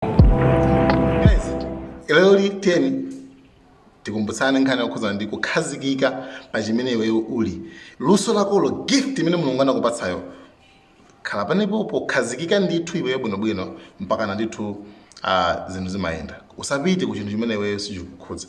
guys lero tiyeni tikumbutsane nkhani yokhudzana ndi kukhazikika pa chimene iweyo uli luso lakolo gift imene mulungu anakupatsayo khala panepo pokhazikika ndithu iweyo bwinobwino mpakana ndithu ah, zinthu zimayenda usapite ku chinthu chimene iweyo sichikukhudza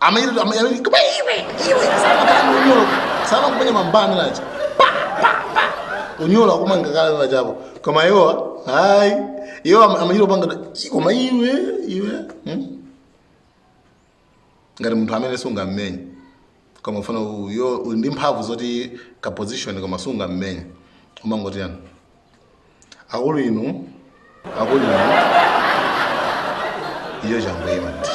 Amene amene koma iwe iwe sana kana unyolo. Sana kumenya mambana nacho. Pa pa pa. Unyolo akumanga kala nacho hapo. Koma iwo ayi. Iwo amachita kupanga koma iwe iwe. Hmm? Ngati munthu amene sungammenye. Koma mfanayo ndi mphamvu zoti ka position koma sungammenye. Umangoti yani. akulu inu akulu inu iwo changoyima ndi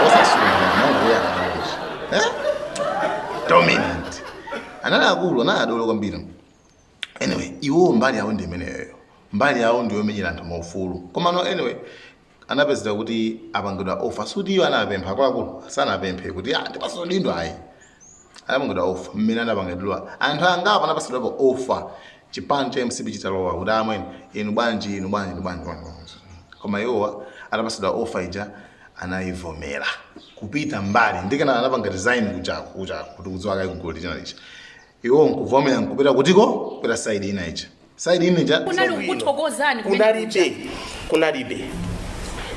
osasungana nangoyakaloji dominant anali akulu anali adolo kwambiri anyway iwo mbali yawo ndi imeneyoyo mbali yawo ndiyomenyera anthu maufulu komano anyway anapezeka kuti apangidwa offer suti iwo anapempha akuluakulu sanapemphe kuti ah ndipatsidwe udindo ayi anapangidwa offer mmene anapangidwa anthu angapo anapatsidwapo offer chipani cha mcp chitalowa kuti amwene inu bwanji inu bwanji inu bwanji bwanji, bwanji." koma iwowa anapatsidwa offer ija anayivomera kupita mbali ndikena anapanga resign kujako kujako kuti kudziwa kaya kugoli china ichi iwo nkuvomera nkupita kutiko kupita side ina ija side ina ija kunali kukuthokozani kumene kuja. kunalibe kunalibe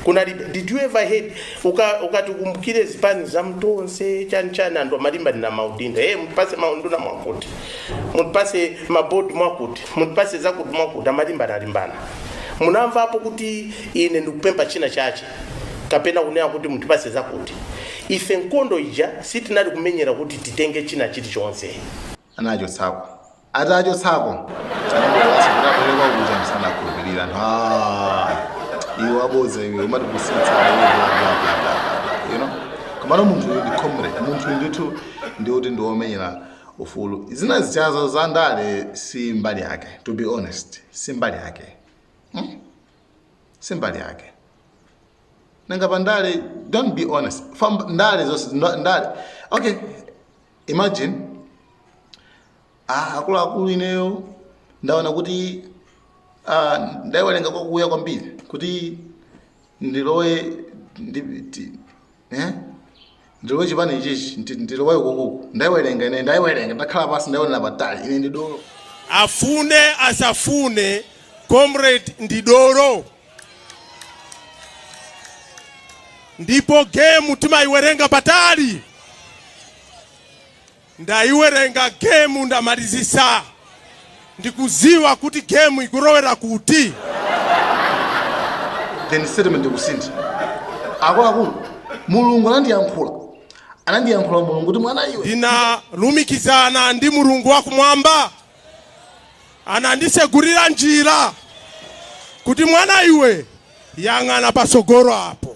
kunalibe did you ever heard uka- ukatikumbukire zipani za m'Tonse chani chani anthu amalimbirana maudindo e mutipase maunduna mwakuti mutipase mabodi mwakuti mutipase zakuti mwakuti amalimbanalimbana munamvapo kuti ine ndikupempha china chache kapena kunena kuti mutipase zakuti ife nkondo ija sitinali kumenyera kuti titenge china chilichonse anachotsako atachotsako anabwerera kuja msanakhulupirira anthu "Ah, iwe wabodza iwe umatipusitsa you know komano munthu uyu ndi comrade munthu uyu ndithu ndi woti ndi womenyera ufulu zina zijazo za ndale si mbali yake to be honest si mbali yake si mbali yake nanga pa ndale don't be honest Fam, ndale zonse ndo- ndale okay imagine ah, akuluakulu ineyo ndaona kuti ah, ndayiwerenga kwakuya kwambiri kuti ndilowe ndi- ti- eh? Ndilowe chipani ichichi, ndi- ndilowe ukuku. Ndaiwerenga ine, ndaiwerenga, ndakhala pansi, ndaionera patali. Ine ndi dolo. Afune asafune, comrade ndi dolo. Ndipo game timaiwerenga patali. Ndaiwerenga game ndamalizisa ndikuziwa kuti game ikurowera kuti. then statement ikusintha akuluakulu mulungu anandiyankhula anandiyankhula mulungu kuti mwana iwe ndinalumikizana ndi mulungu wakumwamba anandisegurira njira kuti mwana iwe yang'ana pasogoro apo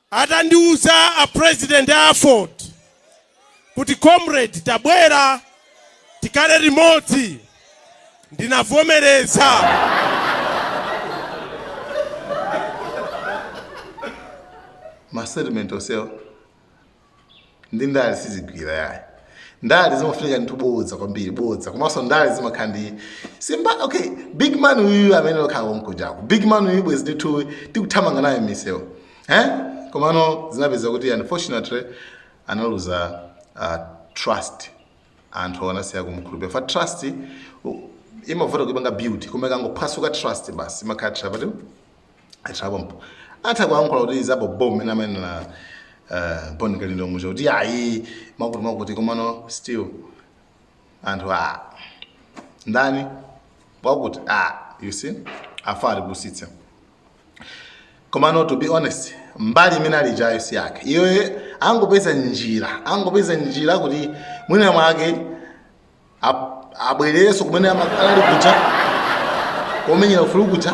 Atandiuza a president a AFORD kuti comrade tabwera tikhale limodzi ndinavomereza. Ma statement onsewo ndi ndale sizigwira yayi ndale zimafunika ndithu bodza kwambiri bodza komanso ndale zimakhala ndi season okay big man uyu amene okhala kujako big man uyu bwezi ndithu tikuthamanga naye m'misewu eh komano zinapeza kuti unfortunately analuza uh, trust anthu anasiya kumkhulupirira ifa trust u- imavuta kuipanga build koma ikangophwasuka trust basi imakhala trust atapampo atha kuyankhula kuti za bomb mene amanenera uh, bon kalindo muja kuti ayi chakuti chakuti komano still anthu a ndani wakuti a you see afa atipusitse komano to be honest mbali imene ali ijayo si yake iyoye angopeza njira angopeza njira kuti mwina mwake abwererenso kumene anali kuja komenyera ufulu kuja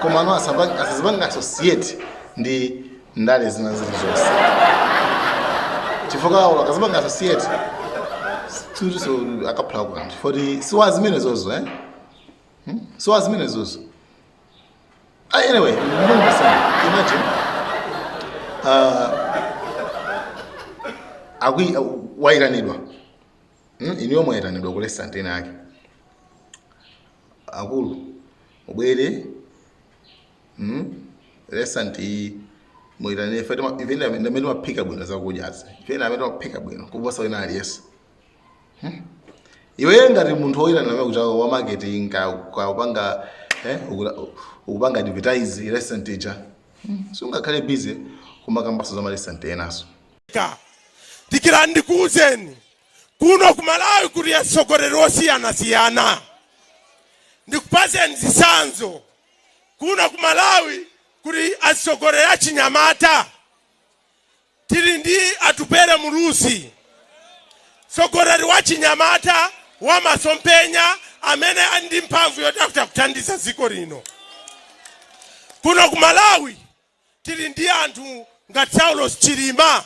komano asazipange associate ndi ndale zina zilizonse chifukwa awo akazipanga associate so akaphula kukanthu chifukwa ti si wa zimenezozo eh? hmm? si wa zimenezozo ah, anyway mbongasana imagine uh, akwi uh, waitanidwa Hmm, inuyo mwayitanidwa ku restaurant ina yake akulu mubwere hmm? restaurant iyi muyitanidwe ife tima- ife ndi- ndi amene timaphika bwino zakudyazi ife ndi amene timaphika bwino kuposa wina aliyense iwe ngati munthu woyitana amene kujaku wa marketing ka ka upanga eh ukula- ukupanga advertise restaurant ija Hmm, sungakhale busy kumakambaso za ma restaurant enaso ka Dikirani ndikuwuzeni, kuno ku Malawi kuli atsogoleri osiyanasiyana. Ndikupaseni zitsanzo. Kuno ku Malawi kuli atsogoleri achinyamata, tili ndi Atupele Muluzi, tsogoleri wachinyamata wamasomphenya amene ali ndi mphamvu yoti akhoza kuthandiza dziko lino. Kuno ku Malawi Tili ndi anthu ngati Saulos Chilima,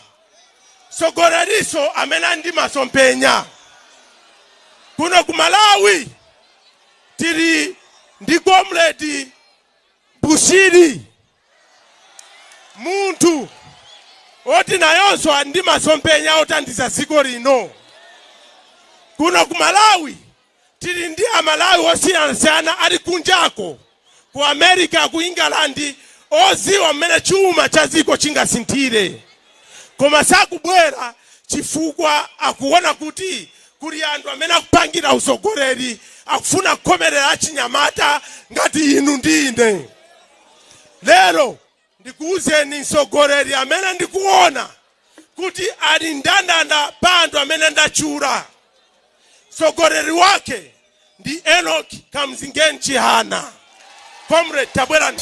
mtsogoleriso amene ali ndi masomphenya. Kuno ku Malawi tili ndi Comrade Bushiri, munthu oti nayonso ali ndi masomphenya othandiza dziko lino. Kuno ku Malawi Tili ndi a Malawi osiyanasiyana ali kunjako, ku America, ku England, oziwa mmene chuma cha dziko chingasinthire. Koma sakubwera chifukwa akuona kuti kuli anthu amene akupangira usogoleri, akufuna kukhomerera achinyamata ngati inu ndi ine lero. Ndikuuzeni mtsogoleri amene ndikuona kuti ali mndandanda pa anthu amene ndatchula. Mtsogoleri wake ndi Enock Kamzingeni Chihana. Comrade tabwerani.